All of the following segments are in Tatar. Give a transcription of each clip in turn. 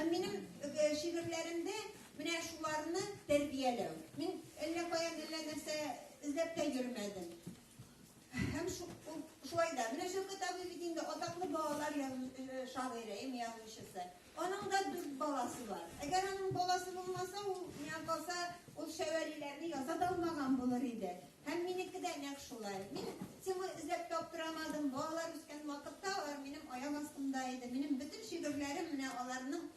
Минем шигырьләремдә менә шуларны тәрбияләү. Мин әллә каян әллә нәрсә эзләп тә йөрмәдем. Һәм шулай да, менә Шәүкәт абый бит инде атаклы балалар шагыйре, им язучысы. Аның да дүрт баласы бар. Әгәр аның баласы булмаса, ул миңа калса, ул шәвәлиләрне яза да алмаган булыр иде. Һәм минеке дә нәкъ шулай. Мин темы эзләп таптырамадым. Балалар үскән вакытта алар минем аяк астымда иде. Минем бөтен шигырьләрем менә аларның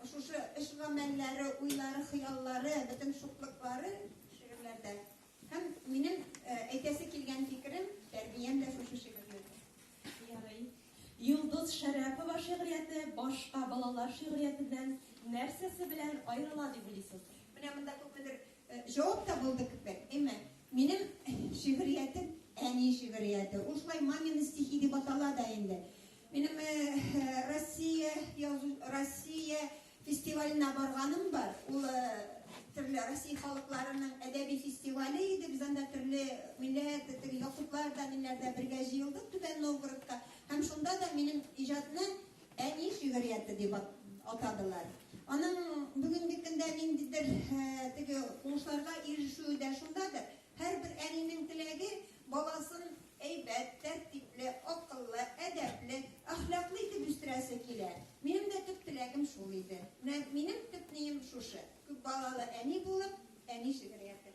шушы эш-гамәлләре, уйлары, хыяллары, бөтен шуклыклары шигырьләрдә. Һәм минем әйтәсе килгән фикерем, тәрбиям дә шушы шигырьләрдә. Ярый. Йолдыз Шәрәпова шигърияте башка балалар шигърияте белән нәрсәсе белән аерыла дип уйлыйсыз? Менә монда күпмедер Җавап табылды кебек, әмма минем шигъриятем әни шигърияте. Ул шулай мамины стихи дип атала да инде. Минем Россия язу Россия фестиваленә барганым бар. Ул төрле Россия халыкларының әдәби фестивале иде. Без анда төрле милләт, теге якутлар да, миннәр дә бергә җыелдык Түбән Новгородка. Һәм шунда да минем иҗатны Әни шигърияте дип атадылар. Аның бүгенге көндә ниндидер теге уңышларга ирешүе дә шундадыр. Һәрбер әнинең теләге баласын әйбәт, тәртипле, акыллы, әдәпле, әхлаклы итеп үстерәсе килә. Минем дә төп теләгем шул иде. Менә минем төп нием шушы, күп балалы әни булып, әни шигърияте.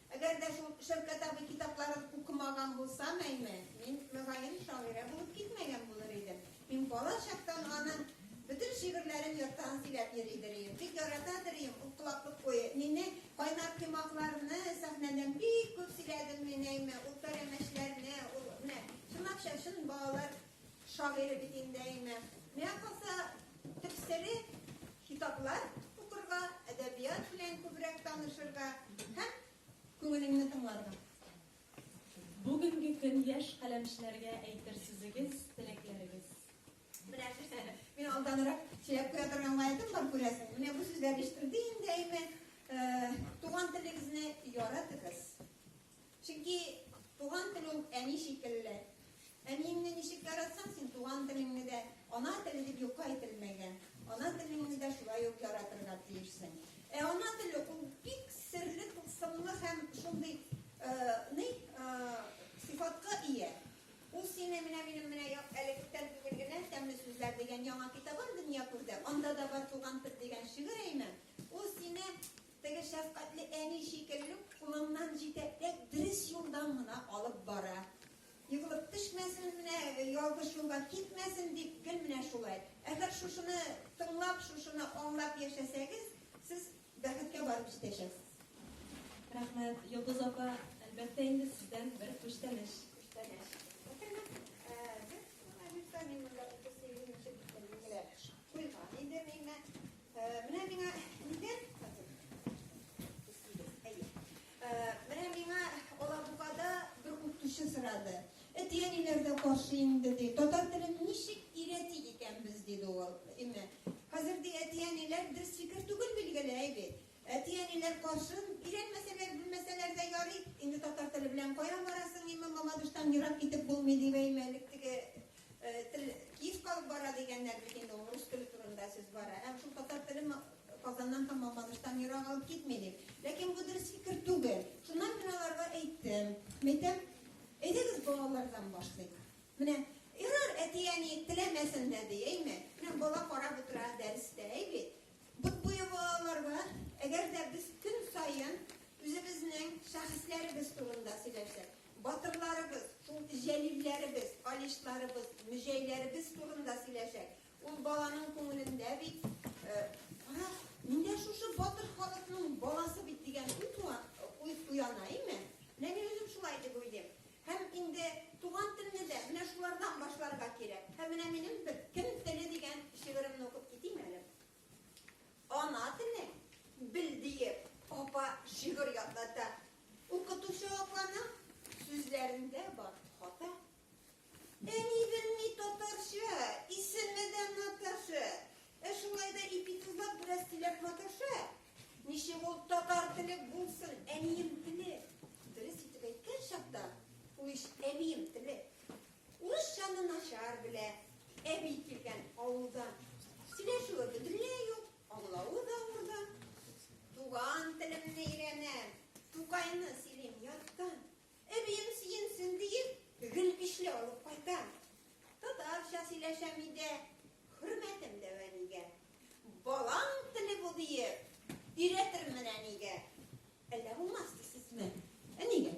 Әгәр дә шул Шәүкәт абый китапларын укымаган булсам, әйме, мин, мөгаен, шагыйрә булып китмәгән булыр идем. Мин бала чактан аның бөтен шигырьләрен яттан сөйләп йөридер идем. Бик яратадыр идем ул колаклык буе. Мине кайнар коймакларны сәхнәдән бик күп сөйләдем мин, әйме, ул пәрәмәчләрне, ул менә чынлапча чын балалар шагыйре бит инде әйме. Миңа калса, төп сере китаплар укырга, әдәбият белән күбрәк танышырга һәм күңелеңне тыңларга. Бүгенге көн яшь каләмчеләргә әйтер сүзегез, теләкләрегез. Менә мин алданрак сөйләп куя торган гаетем бар күрәсең. Менә бу сүзләр ишетелде инде әйме. Э, туган телегезне яратыгыз. Чөнки туган тел ул әни шикелле. Әниеңне ничек яратсаң, син туган телеңне дә, ана теле дип юкка әйтелмәгән, ана телеңне дә шулай ук яратырга тиешсең. Ә ана теле ул бик серле, тылсымлы һәм шундый э, ни э, сыйфатка ия. Ул сине менә минем менә әле күптән түгел генә тәмле сүзләр дигән яңа китабым дөнья күрде. Анда да бар туган тел дигән шигырь әйме. Ул сине Теге шәфкатьле әни шикелле үк кулыннан җитәкләп дөрес юлдан гына алып бара. Егылып төшмәсен, менә ялгыш юлга китмәсен дип гел менә шулай. Әгәр шушыны тыңлап, шушыны аңлап яшәсәгез, сез бәхеткә барып җитәчәксез. Рәхмәт, Йолдыз апа. Әлбәттә инде сездән бер күчтәнәч. Күчтәнәч. Рәхмәт. Без шуны Витаминнарда 38 нче бөтенлегенә куйган идем, әйме. Э, менә миңа нидер әйе э, менә миңа алабугада бер укытучы сорады әтиәниләр дә каршы инде ди татар телен ничек өйрәти икәнбез диде ул әмма хәзер ди әтиәниләр дөрес фикер түгел билгеле әйе әтиәниләр каршы өйрәнмәсәләр белмәсәләр дә ярый инде татар теле белән кая барасың имам мамадыштан ерак китеп булмый дип әймәлек теге Тел киев калып бара дигәннәр бит инде ул рус теле турында сүз бара. Һәм шул татар теле Казаннан һәм Мамадыштан ерак алып китми дип. Ләкин бу дөрес фикер түгел. Шуннан мин аларга әйттем. Мәйтәм, әйдәгез балалардан башлыйк. Менә ярар әти-әни теләмәсен дә ди, әйме? Менә бала карап утыра дәрестә, әйби. Бот буе балаларга, әгәр дә без көн саен үзебезнең шәхесләребез турында сөйләшсәк, Батырларыбыз, шул җәлилләребез, калишларыбыз, мөҗәйләребез турында сөйләшәк. Ул баланың күңелендә бит, кара, мин дә шушы батыр халыкның баласы бит дигән уй уяна, име? Менә мин үзем шулай дип уйлыйм. Һәм инде туган телне дә менә шулардан башларга кирәк. Һәм менә минем бер кем теле дигән шигыремне укып китим әле. Ана телен бел диеп, апа шигырь ятлата. Укытучы апаның сүзләрендә бар хата. Әни белми татарча, исеме дә Наташа. Ә шулай да ипитезлап бераз сөйләп маташа. Ничек ул татар теле булсын, әнием теле. Дөрес итеп әйткән чакта, ул иш әнием теле. Урысчаны начар белә, әби килгән авылдан. Сөйләшүе бөтенләй юк, аңлавы да авырдан. Туган телемне өйрәнәм, Тукайны сөйлим яттан. Әбием сөенсен диеп, гел көчле алып кайтам. Татарча сөйләшәм өйдә, хөрмәтем дә әнигә. Балаң теле бу диеп, өйрәтермен әнигә. Әллә булмас дисезме? Әнигә.